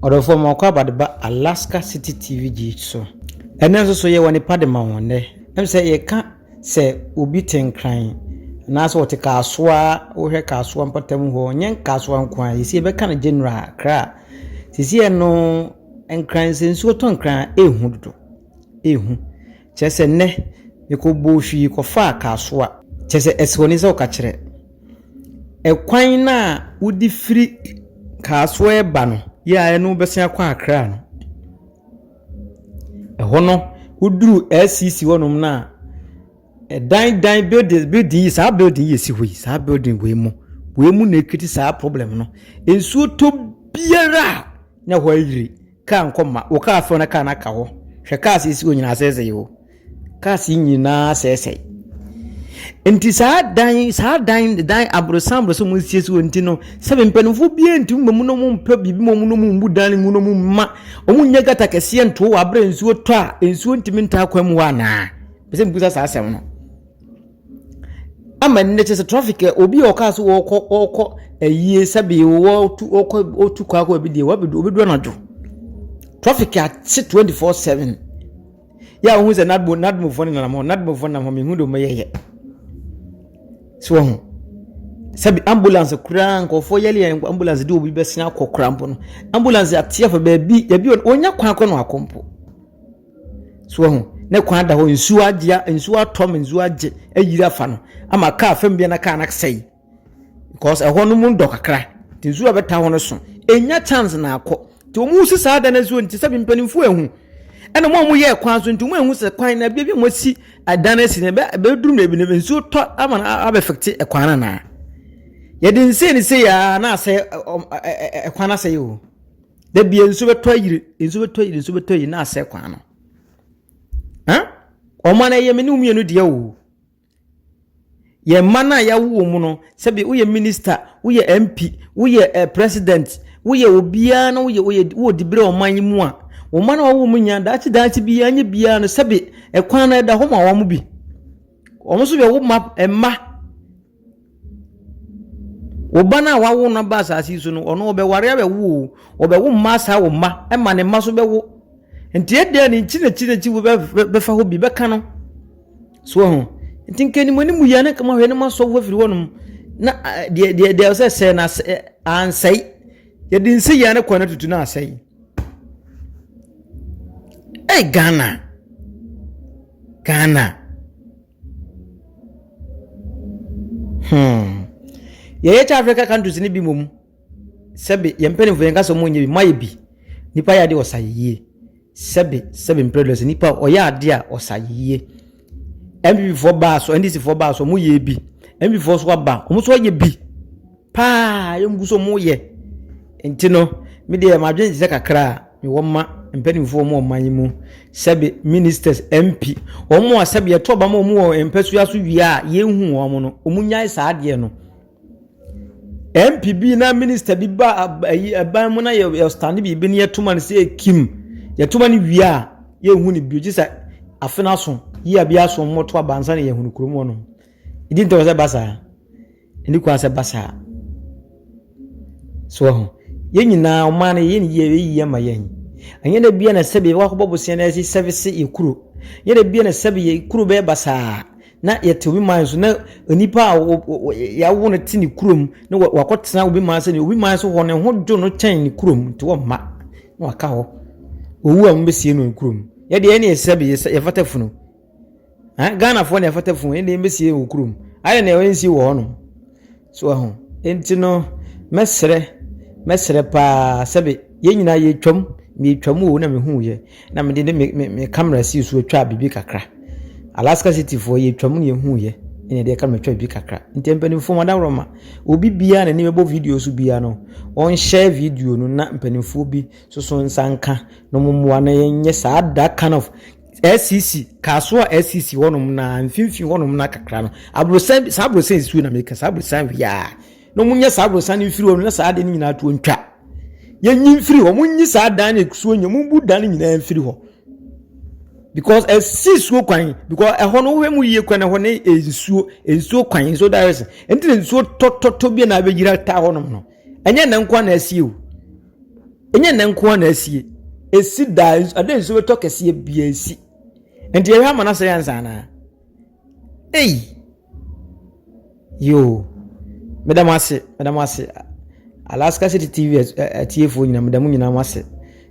Ɔdɔfoɔ ma ɔkɔ abade ba Alaska City TV gye so. Ɛnɛ nso so yɛwɔ ne pa de ma wɔn nnɛ. Ɛm sɛ yɛka Sɛ obi te nkran anaasɛ ɔte kasoa, wohwɛ kasoa mpɔtam hɔ, nyɛ kasoa nko ara, sisi yɛbɛka no general Accra a, sisi ɛno nkran, sɛ nsuo tɔ nkran a, ɛrehu dodo, ɛrehu. Kyerɛ sɛ nnɛ, mekɔbɔɔ hwii kɔfaa kasoa, kyerɛ sɛ ɛsɛ w'ani sɛ woka kyerɛ. Ɛkwan no a wode firi kasoa reba no, yɛ a ɛno wobɛsan akɔ Accra no. Ɛhɔ no, woduu LCC hɔnom no a, ɛdan dan building building yi saa building yi a ɛsi hɔ yi saa building wei mu wei mu na ɛkriti saa problem no. Nsuo tɔ biara a na ɛhɔ ayiri. Kaa nkɔ mma. Wo kaa fɛw na kaa no aka hɔ. Hwɛ cars a ɛsi hɔ nyinaa asɛesɛe o. Cars nyinaa sɛesɛe. Nti saa dan saa dan dan aborosan aborosan mu siesie wɔn ti no sɛbi mpanimfoɔ biara ntumi ma mu na wɔn mpɛ biribi ma wɔn na wɔn mbu dan mu na wɔn mma wɔn nyɛ gata kɛseɛ ntoo wɔ abere nsuo tɔ a nsuo ntumi ntaa kwan mu hɔ anaa pɛsɛ mbusa saa asɛm no ama nnɛ kyɛ sɛ traffic eh, obi a ɔkaa so wɔkɔ wɔkɔ ayie sɛbi wɔtu wɔkɔ wɔtu kɔ akɔ ebi deɛ wɔbɛdu wɔbɛdu anadwo traffic ate twenty four seven. yɛ a wohu sɛ n'admo n'admofoɔ no nenam hɔ n'admofoɔ nenam hɔ mehu de wɔyɛ yɛ so wɔn ho sɛbi ambulance koraa nkurɔfoɔ yɛle yɛ ambulance de obi bɛsen akɔ koraa mpo no ambulance ateɛ fɔ baabi ebi wɔnya kwan akɔ no akɔ mpo so wɔn ho ne kwan da hɔ nsuo agye nsuo atɔ ma nsuo agye ayiri afa no ama kaa fam bi na kaa no asɛe Because ɛhɔ no mu dɔ kakra nti nsuo a ɛbɛtaa hɔ no so. Ɛnya chance na akɔ. Nti wɔn si saa dan no nsuo nti sɛbi mpanimfoɔ ehu. Ɛna wɔn a wɔn yɛ kwan so nti wɔn ehu sɛ kwan na baabi a wɔn asi dan asi no ɛbɛ ɛbɛduru baabi no nsuo tɔ ama no abɛfɛkte ɛkwan no anaa. Yɛde nsɛn ne sɛ yaa na asɛ ɛkwan no asɛe o. Da bia nsuo bɛtɔ ayiri nsuo bɛtɔ ayiri nsuo bɛtɔ ayiri na asɛ kwan no. Wɔn a na ɛyɛ me ne wɔn mmienu deɛ o. Yɛn mma no a yɛawo wɔn no, sɛbi woyɛ minister, woyɛ MP, woyɛ eh, president, woyɛ obiara na woyɛ woyɛ wowɔ dibere ɔman yi mu a, wɔn mma no a wɔwɔ mu nya daakye daakye biara nyɛ biara no sɛbi ɛkwan no ɛda hɔ ma wɔn bi. Wɔn nso yɛ wo mma mma. Wo ba no a woawo no aba asase yi so no, ɔno ɔbɛware abɛwo o, ɔbɛwo mma asaa wo mma, ɛma ne mma nso bɛwo. Nti ɛdeɛ ne nkyi n'akyi n'akyi wo bɛfa hɔ bi bɛka no. So ho. Nti nka anim anim yɛ na nka mahwɛ na masɔ wo afiri hɔnom na deɛ deɛ deɛ sɛ sɛe na ansɛe. Yɛde nsi yɛn ne kwan atutu na asɛe. Ɛy Ghana. Ghana. Hmm. Yɛn yɛkyɛ Africa countries no bi mmom sɛbe yɛn mpanimfoɔ yɛn kasa wɔn nyɛ bi mo ayɛ bi nipa yɛ adeɛ ɔsa yie sɛbe sɛbe mpredɔs nipa ɔyɛ adeɛ a ɔsa yie npp foɔ baa so ndc foɔ baa so wɔn yɛ bi npp foɔ so aba wɔn so ayɛ bi paa yɛn gu so wɔn yɛ nti no mi deɛ ma adwene ti sɛ kakra. Mewɔ mma mpanimfoɔ wɔ ɔman yi mu, sɛbe ministers, MP, wɔn a sɛbe yɛto aba ma wɔn wɔ mpasua so wie a yɛnhu wɔn no, wɔn nyae saa adeɛ no. MP bi na minister bi ba ayi ɛban mu na yɛ yɛ stand biribi ne yɛto ma no sɛ ekim yɛto ma no wie a yɛnhu no bio gye sɛ afe no aso yia bi aso wɔn to aba nsa na yɛhunu kurom hɔ no. Ɛdi ntɛ wɔ sɛ ba saa. Ɛnni kwan sɛ ɛba saa. So wahu? Yɛn nyinaa, ɔman no, yɛyɛ no yie, ɛyɛ yie ama yɛn. Ɛnyɛ da biara na sɛbi yɛbɛkɔ akɔbɔ bosea na yɛasi sɛvese yɛ kuro. Ɛnyɛ da biara na sɛbi yɛ kuro bɛyɛ basaa na yɛte obi man so na onipa a yɛawo no te ne kurom na wakɔtena obi man sɛ obi man so hɔ ne ho dwo no kyɛn ne kurom nti wɔmma na waka hɔ. Owu a wɔbɛsie no ne kurom. Yɛdeɛ ɛne yɛ sɛbi yɛfata funu. ghanafoɔ na ɛfata funu ɛnna ɛmbɛsie wɔ kurom ayɛ na ɛnsie wɔ hɔnom so ɛho nti no mɛsrɛ mɛsrɛ paa sɛbi yɛn nyinaa yɛtwam meyɛtwam o na mehu yɛ na mede ne me me me kamera si so atwa biribi kakra alaska city foɔ yɛtwam na yɛhu yɛ ɛna ɛde ɛka matwa biribi kakra nti mpanimfoɔ mu adaworɔ ma obi biara na ne bɛbɔ video so biara no ɔnhyɛ video no na mpanimfoɔ bi soso nsa nka na wɔn mmoa na yɛnyɛ saa that kind of SCC, Kasoa SCC hɔnom na mfimfini hɔnom na kakra no. Aborosan saa aborosan nsuo na meka saa aborosan wiaa. Na wɔn nyɛ saa aborosan no mfiri hɔ na saa ade no nyinaa to ntwa. Yɛnyi mfiri hɔ, wɔn nyi saa dan na ekusuo nyɛ, wɔn bu dan no nyinaa mfiri hɔ. Because ɛsi nsuo kwan because ɛhɔ no wohwɛ mu yie kwan ɛhɔ ne nsuo nsuo kwan nsuo direction. Ɛnti na nsuo tɔtɔtɔ bi na abɛgyina taa hɔnom no. ɛnyɛ nnɛ nko na asie o ɛnyɛ nnɛ nko na asie ɛsi daa ada nsuo bɛtɔ kɛseɛ bia ɛsi nti yɛhwɛ ama no asɛ yɛnsa anaa ei yoo meda mo ase meda mo ase alaska city tv atiefoɔ nyina meda mo nyinaa mo ase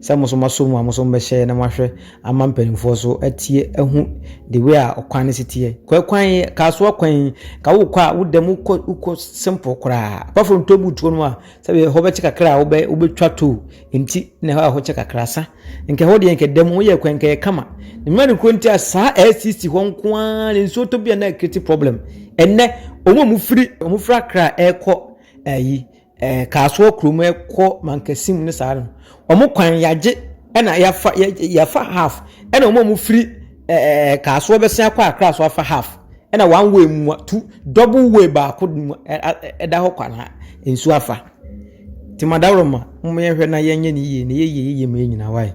Sɛ mo nso moasɔ mu a mo nso mobɛhyɛ na moahwɛ ama mpaninfoɔ so atie ahu the way a ɔkwan no si teɛ. Kɔ ɛkwan yi, Kasoa kwan yi, ka wokɔ a wo dɛm wokɔ wokɔ simple koraa. Apart from toll booth hɔ nom a sɛbe ɛhɔ bɛkye kakra a wobɛ wobɛtwa toll nti na ɛhɔ a ɛhɔ kye kakra sa. Nka ɛhɔ deɛ nka dɛm woyɛ kwan nka ɛyɛ kama. Ne mmerɛ ne kuro nti a saa LCC hɔ nko ara na nsuo tɔ bi a na ɛkriti problem. Ɛnnɛ wɔn a wɔfiri wɔfiri Accra ɛrekɔ ɛyi ɛɛ Kasoa kurom rekɔ Mankasim ne saa no, wɔn kwan yɛagye na yɛafa yɛ yɛafa half, ɛna wɔn a wɔfiri ɛɛ Kasoa bɛsen akɔ Accra nso afa half, ɛna one way mu a two double way baako mu a ɛda hɔ kwa na nsuo afa. Nti Madaworoma, momma yɛnhwɛ na yɛnyɛ no yie na yɛyɛ yie ma yɛn nyinaa, wai?